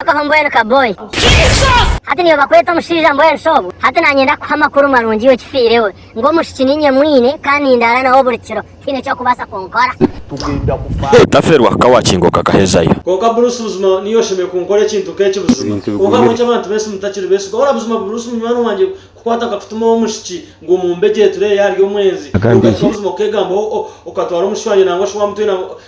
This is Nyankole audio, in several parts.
Tokaho mbwenu ka boy. Hati niwe bakweta omushaija mbwenu shi obwo? Hati nanye ndakuha amakuru marungi okifiirewe ngu omwishiki ninye mwine kandi nindaara nawe buri kiro tihaine eky'okubaasa kunkora. Tugenda kufa. Hee taferwa ka wakingo kakahezayo. Kwonka Bruce buzima niiwe oshemereire kunkora ekintu nk'eki buzima. Kwonka ahabw'enki abantu bensi mutakiri beesigwa? Ora buzima Bruce munywani wangye kukwata nkakutumaho omwishiki ngu omumbe gye turebe yaaba ari omwenzi, reero okahika buzima okeegambaho okatwara omwishiki wangye nangwa shi waamutwire nangwa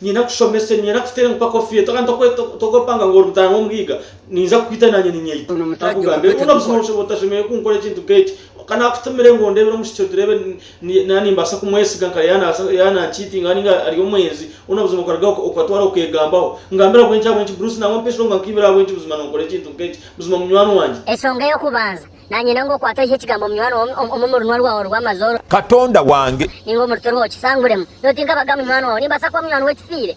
Niinyenda kushomesa, niinyenda kuteera empaka ofiire, tokaanya tokopanga ngu ori mutaana w'Omuhiiga, niinza kukwita naanye niinyeyita. Akugambire ngu oine otashemereire kunkora ekintu nk'eki. Kandi akutumire ngu ondeebere omu kicweka tureebe naaba nimbaasa kumwesiga nka yaaba nankiitinga nainga ari omwenzi. Bwona buzima okarugaho okatwara okeegambaho. Ngambire ahabw'enki, ahabw'enki Bruce nangwa mpitsirwe ngu ankiibire ahabw'enki buzima noonkora ekintu nk'eki buzima munywani wangye? Enshonga ey'okubanza, Nanyenda ngu okwate oihe ekigambo munywani wawe omu runwa rwawe orw'amazooba. Katonda wange. Ninga omu ruti rwawe kisanguremu. Nyowe tinkabaga munywani wawe. Nimbaasa kuba munywani w'ekifiire.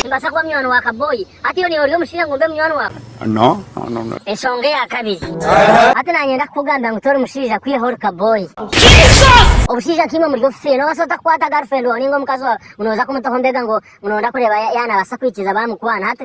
Nimbaasa kuba munywani wa kabooyi. Hati iwe niiwe ori omushaija ngu mbe munywani waawe? Enshonga eya kabiri. Hati nanyenda kukugambira ngu tori mushaija kwihaho ori kabooyi. Obushaija nk'eimwe muri obufiire. Noobaasa ota kukwata girlfriend waawe ninga omukazi waawe ngu nooza kumutaho mbega ngu nooza kureeba yanabaasa kwikiriza baamukwana. Hati